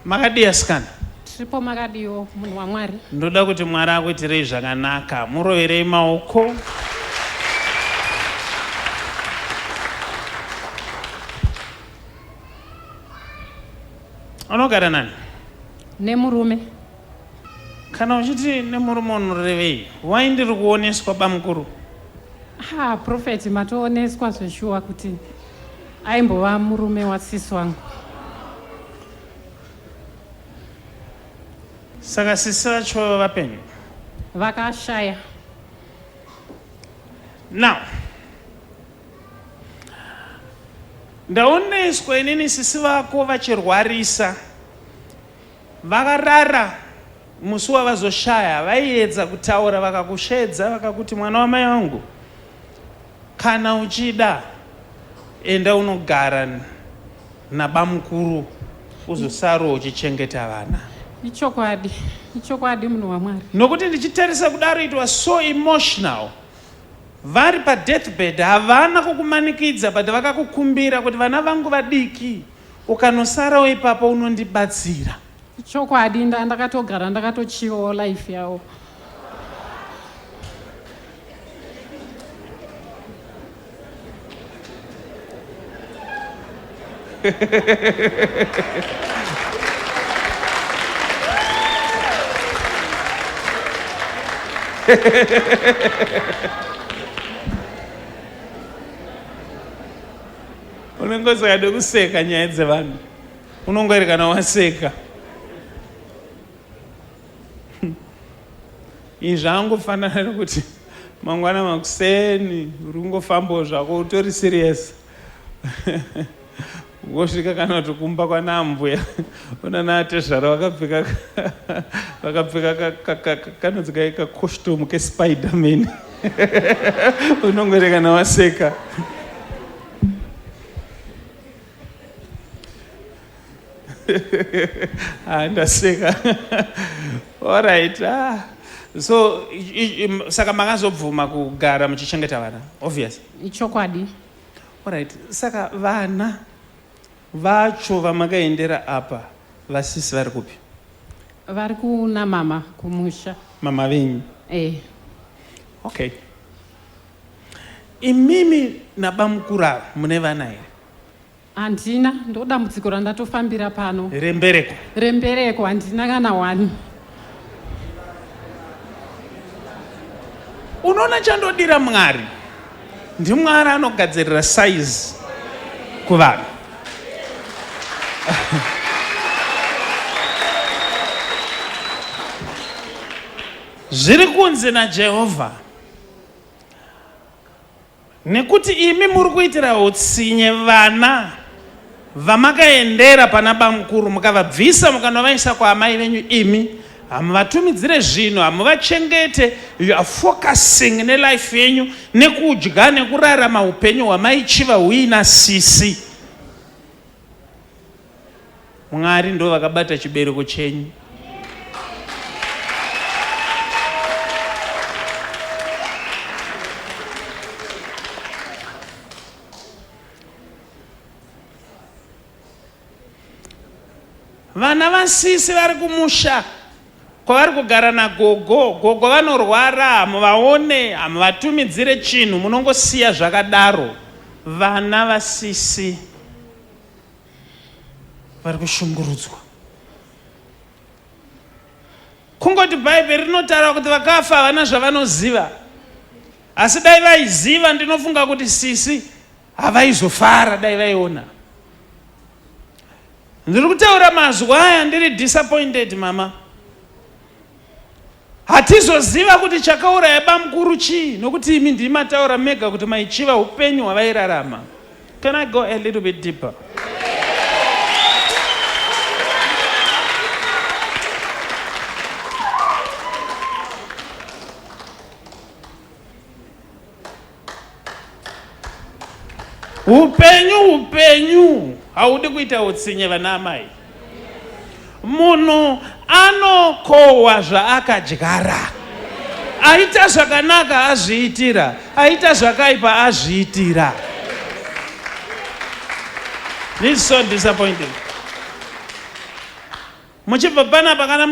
Makadii asikana? Tiripo makadiwo munhu waMwari. Ndoda kuti Mwari akuitirei zvakanaka. Muroverei maoko. Unogara nani? Nemurume. Kana uchiti nemurume unorevei? Why ndiri kuoneswa bamukuru? Ha, prophet matooneswa zveshuwa kuti aimbova murume wasisi wangu. Saka sisi vacho vapenyu? Vakashaya. Now ndaoneswa inini sisi vako vachirwarisa vakarara musi wavazoshaya vaiedza kutaura vakakushedza vakakuti mwana wamai vangu kana uchida enda unogara nabamukuru uzosaro uchichengeta vana ichokwadi ichokwadi munhu wamwari nokuti ndichitarisa kudaro it was so emotional vari padeathbed havana kukumanikidza but vakakukumbira kuti vana vangu vadiki ukanosarawo ipapo unondibatsira Chokwadi ndakatogara ndakatochivawo life yavo. unenge usingade kuseka nyaya dzevanhu unongwaerekana waseka izvi zvangofanana nekuti mangwana makuseni uri kungofambawo zvako utori serious wosvika kana kuti kumba kwanambuya unanatezvara vakapfeka vakapfeka kanonzi kai kacostume kespiderman unongoerekana waseka ah, ndaseka allright ah. so saka makazobvuma kugara muchichengeta vana obvious ichokwadi allright saka vana vacho vamakaendera apa vasisi vari kupi vari kuna mama kumusha mama venyu eh. okay Imimi nabamukuru ava mune vana here? Handina, ndodambudziko randatofambira pano. Rembereko? Rembereko, handina kana wani. Unoona chandodira Mwari, ndiMwari anogadzirira size kuvanhu. Zviri kunzi naJehovha. nekuti imi muri kuitira utsinye vana vamakaendera pana bamukuru mukavabvisa mukanovaisa kwaamai venyu imi hamuvatumidzire zvinhu hamuvachengete you are focusing nelife yenyu nekudya nekurarama upenyu hwamaichiva huina sisi Mwari ndo vakabata chibereko chenyu. Vana vasisi vari kumusha kwavari kugara nagogo gogo vanorwara hamuvaone hamuvatumidzire chinhu munongosiya zvakadaro vana vasisi vari kushungurudzwa kungoti bhaibheri rinotaura kuti vakafa havana zvavanoziva asi dai vaiziva ndinofunga kuti sisi havaizofara dai vaiona ndiri kutaura mazuva aya ndiri disappointed mama Hatizoziva kuti chakauraya bamukuru chii nokuti imi ndimi mataura mega kuti maichiva hupenyu hwavairarama. Can I go a little bit deeper? Upenyu upenyu haudi kuita utsinye vana amai. Munhu anokohwa zvaakadyara. Aita zvakanaka azviitira, aita zvakaipa azviitira. This is so disappointing. Muchibva panapa kana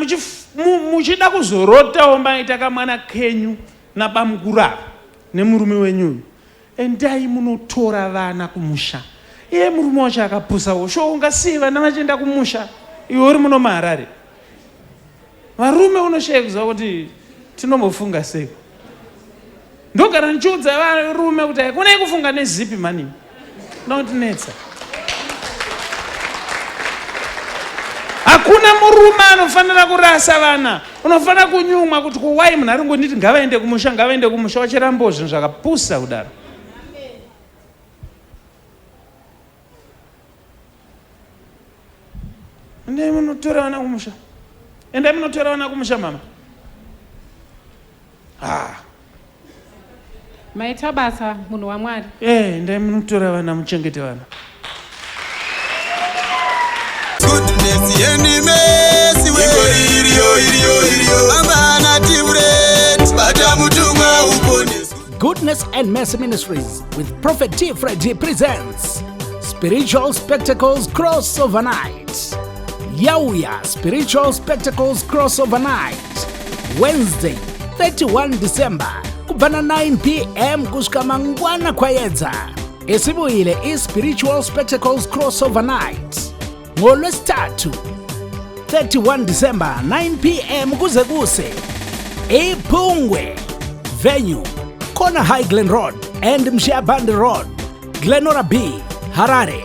muchida kuzorotawo maita kamwana kenyu nabamukuru ava nemurume wenyu uyu endai munotora vana kumusha iye murume wacho akapusawo sho ungasiye vana vachienda kumusha iwe uri muno maharare varume unoshaya kuziva kuti tinombofunga sei ndogara ndichiudza varume kuti haikona yekufunga nezipi mani Ndinotinetsa. Hakuna murume anofanira kurasa vana. Unofanira kunyumwa kuti kuwai munhu ari ngonditi ngavaende kumusha ngavaende kumusha wachirambawo zvinhu zvakapusa kudaro. Endai munotora vana kumusha. Endai munotora vana kumusha mama. Ah. maita basa munhu wamwari eh ndai munotora vana muchengete vana goodness yeni mesi we iriyo iriyo iriyo amana timret bata mutumwa uponesi goodness and mercy ministries with prophet t freddy presents spiritual spectacles crossover night yauya spiritual spectacles crossover night Wednesday 31 December kubva na 9 pm kusvika mangwana kwayedza. Isibuyile iSpiritual Spectacles Crossover Night ngoLwesithathu 31 December 9 pm kuze kuse iPhungwe venue Kona High Glen Road and Mshiabandi Road, Glenora B, Harare.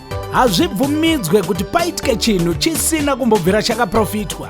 Hazvibvumidzwe kuti paitike chinhu chisina kumbobvira chakaprofitwa.